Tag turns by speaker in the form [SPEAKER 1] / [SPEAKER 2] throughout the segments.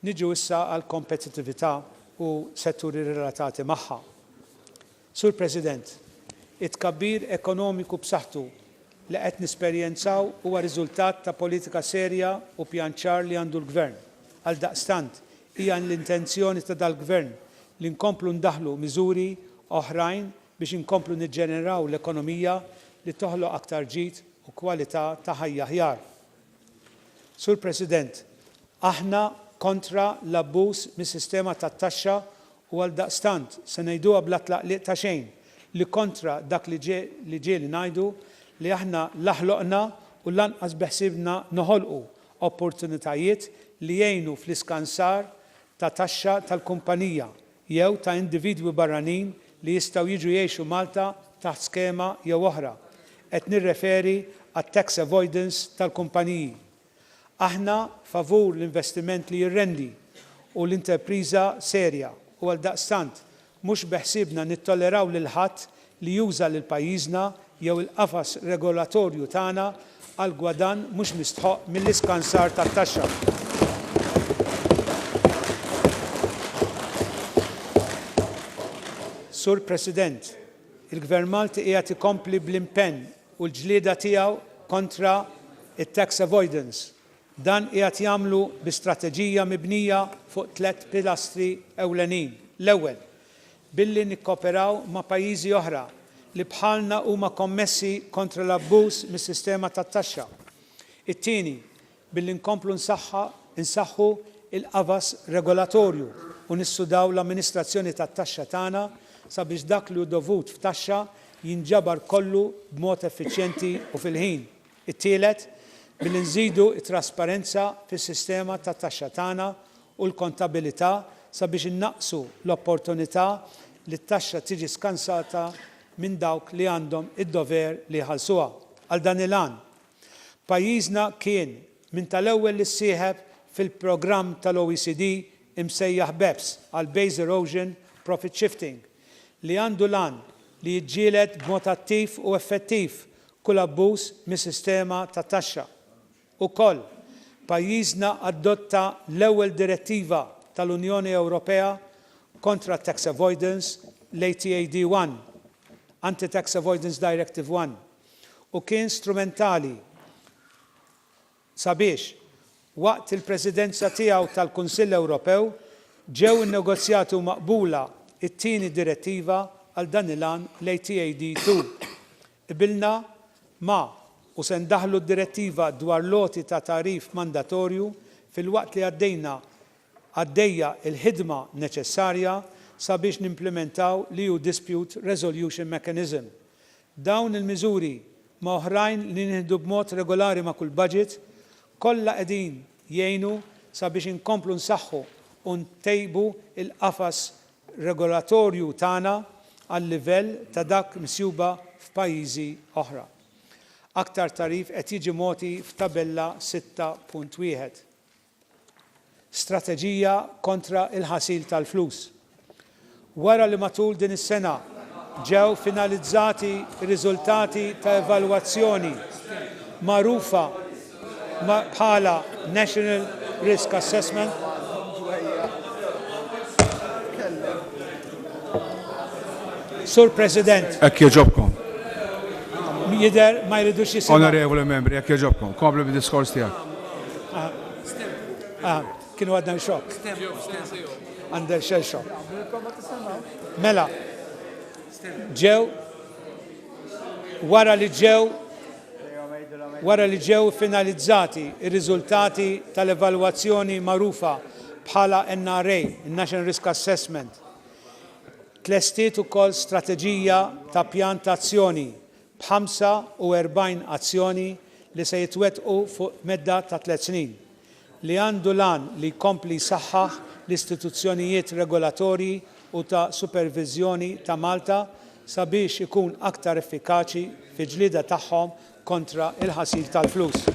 [SPEAKER 1] Niġu issa għall-kompetittività u setturi relatati magħha. Sur President, it-tkabbir ekonomiku b'saħħtu li qed nesperjenzaw huwa riżultat ta' politika serja u pjan ċar li għandu l-Gvern. Għaldaqstant, Hija l-intenzjoni ta' dal-Gvern li nkomplu ndaħħlu miżuri oħrajn biex inkomplu niġġeneraw l-ekonomija li toħloq aktar ġid u kwalità ta' ħajja aħjar. Sur President, aħna kontra l-abbuż mis-sistema tat-taxxa u għaldaqstant se ngħiduha bla tlaqliq ta' xejn li kontra dak li ġieli ngħidu li aħna la ħloqna u lanqas beħsiebna noħolqu opportunitajiet li jgħinu fl-iskansar ta' taxxa tal-kumpanija jew ta' individwi barranin li jistgħu jiġu jgħixu Malta taħt skema jew oħra, qed nirreferi għat-tax avoidance tal-kumpaniji. Aħna favur l-investiment li jirrendi u l-interpriża serja u għaldaqstant Mhux beħsiebna nittolleraw lil ħadd li juża lil pajjiżna jew il-qafas regolatorju tagħna għal gwadann mhux mistħoqq mill-iskansar tat-taxxa. Sur President, il-Gvern Malti qiegħed ikompli bl-impenn u l-ġlieda tiegħu kontra t-tax avoidance Dan qiegħed jagħmlu bi strateġija mibnija fuq tliet pilastri ewlenin, l-ewwel, billi nikkooperaw ma' pajjiżi oħra li bħalna huma kommessi kontra l-abbuż mis-sistema tat-taxxa, it-tieni, billi nkomplu nsaħħu l-qafas regolatorju u nissudaw l-amministrazzjoni tat-taxxa tagħna sabiex dak li hu dovut f'taxxa jinġabar kollu b'mod effiċjenti u fil-ħin. It-tielet, billi nżidu t-trasparenza fis-sistema tat-taxxa tagħna u l-kontabilità sabiex innaqqsu l-opportunità li t-taxxa tiġi skansata minn dawk li għandhom id-dover li jħallsuha. Għal dan il-għan, pajjiżna kien minn tal-ewwel li ssieħeb fil-programm tal-OECD imsejjaħ beps għal Base Erosion Profit Shifting, li għandu l-għan li jiġġieled b'mod attiv u effettiv kull abbuż mis-sistema ta' taxxa. Ukoll, pajjiżna adotta l-ewwel direttiva tal-Unjoni Ewropea kontra t-tax avoidance, l-ATAD 1, Anti-Tax Avoidance Directive 1, u kien strumentali sabiex, waqt il-Presidenza tiegħu tal-Kunsill Ewropew, ġew innegozjati u maqbula t-tieni direttiva għal dan il-għan, l-ATAD 2. Qbilna ma' u se ndaħħlu d-Direttiva dwar l-għoti ta' tagħrif mandatorju filwaqt li għaddejna għaddejja l-ħidma neċessarja sabiex nimplimentaw l-EU Dispute Resolution Mechanism. Dawn il-miżuri, ma' oħrajn li nieħdu b'mod regolari ma' kull baġit, kollha qegħdin jgħinu sabiex inkomplu nsaħħu u ntejbu l-qafas regolatorju tagħna għal-livell ta' dak msjuba f'pajjiżi oħra. Aktar tagħrif qed jiġi mogħti f'Tabella 6.1. Strateġija kontra l-ħasil tal-flus. Wara li matul din is-sena ġew finalizzati r-riżultati ta' evalwazzjoni magħrufa, bħala National Risk Assessment. Sur President. Hekk jogħġobkom. Jidher ma jridux jisimgħu. Onorevoli membri, hekk
[SPEAKER 2] jogħġobkom. Komplu bid-diskors tiegħek.
[SPEAKER 1] Kienu għadna xokk. Għandel xel xokk. Mela, ġew wara li ġew Wara li ġew iffinalizzati r-riżultati tal-evalwazzjoni magħrufa bħala NRA, in-National Risk Assessment, tlestiet ukoll strateġija ta' pjan ta' azzjoni b'ħamsa u erbgħin azzjoni li se jitwettqu fuq medda ta' tliet snin. li għandu l-għan li jkompli jsaħħaħ l-istituzzjonijiet regolatorji u ta' superviżjoni ta' Malta sabiex ikun aktar effikaċi fil-ġlieda tagħhom kontra l-ħasil tal-flus.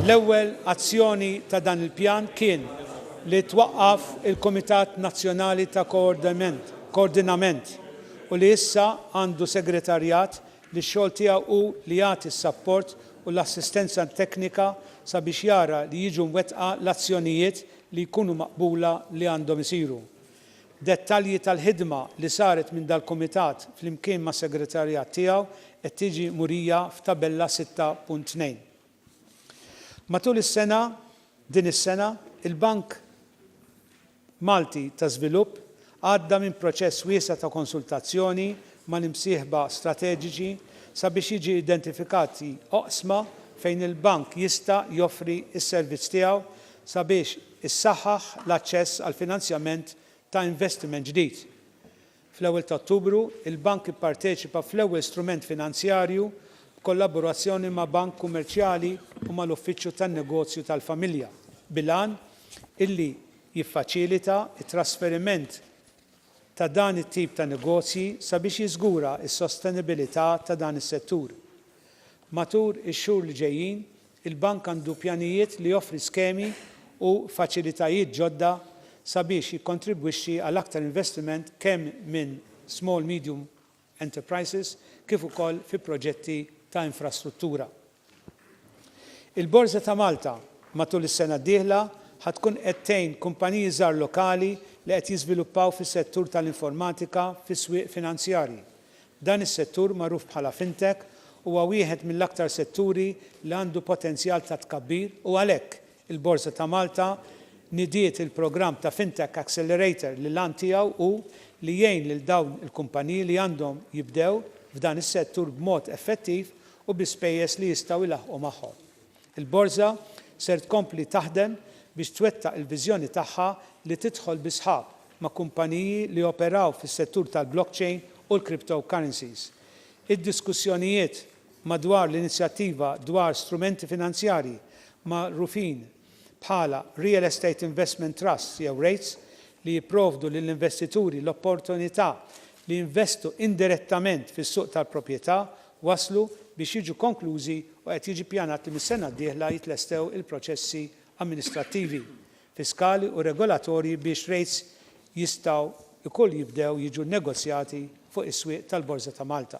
[SPEAKER 1] L-ewwel azzjoni ta' dan il-pjan kien li twaqqaf il-Kumitat Nazzjonali ta' Koordinament u li issa għandu segretarjat li x-xogħol tiegħu hu li jagħti s-sapport u l-assistenza teknika sabiex jara li jiġu mwettqa l-azzjonijiet li jkunu maqbula li għandhom isiru. Dettalji tal-ħidma li saret minn dal-Kumitat flimkien mas-segretarjat tiegħu qed tiġi murija f'tabella 6.2. Matul is-sena, din is-sena, il-Bank Malti ta' Żvilupp għadda minn proċess wiesa' ta' konsultazzjoni mal-imsieħba strateġiċi sabiex jiġi identifikati oqsma fejn il-Bank jista' joffri s-servizz tiegħu sabiex issaħħaħ l-aċċess għall-finanzjament ta' investiment ġdid. Fl-ewwel ta' Ottubru, il-Bank ipparteċipa fl-ewwel strument finanzjarju b'kollaborazzjoni ma' bank kummerċjali u mal-Uffiċċju tan-Negozju tal-Familja, bil-għan illi jiffaċilita t-trasferiment ta' dan it-tip ta' negozji sabiex jiżgura s-sostenibilità ta' dan is-settur. Matul ix-xhur li ġejjin, Il-Bank għandu pjanijiet li joffri skemi u faċilitajiet ġodda sabiex jikkontribwixxi għal aktar investiment kemm minn small medium enterprises kif ukoll fi proġetti ta' infrastruttura. Il-Borża ta' Malta matul is-sena d-dieħla ħa tkun qed tgħin kumpaniji żgħar lokali li qed jiżviluppaw fis-settur tal-informatika fis-swieq finanzjarji Dan is-settur, magħruf bħala fintech, huwa wieħed mill-aktar setturi li għandu potenzjal ta' tkabbir u għalhekk, il-Borża ta' Malta nidiet il-programm ta' Fintech Accelerator li l-għan tiegħu hu li jgħin lil dawn il-kumpaniji li għandhom jibdew f'dan is-settur b'mod effettiv u bi spejjeż li jistgħu jlaħħqu magħhom. Il-Borża ser tkompli taħdem biex twettaq il-viżjoni tagħha li tidħol bi sħab ma' kumpaniji li joperaw fis-settur tal-blockchain u l-cryptocurrencies. Id-diskussjonijiet madwar l-inizjattiva dwar strumenti finanzjarji magħrufin bħala Real Estate Investment Trusts jew REITs li jipprovdu lill-investituri l-opportunità li jinvestu indirettament fis-suq tal-proprjetà waslu biex jiġu konklużi u qed jiġi ppjanat li mis-sena d-dieħla jitlestew il-proċessi amministrattivi, fiskali u regolatorji biex rates jistgħu wkoll jibdew jiġu nnegozjati fuq is-swieq tal-Borża ta' Malta.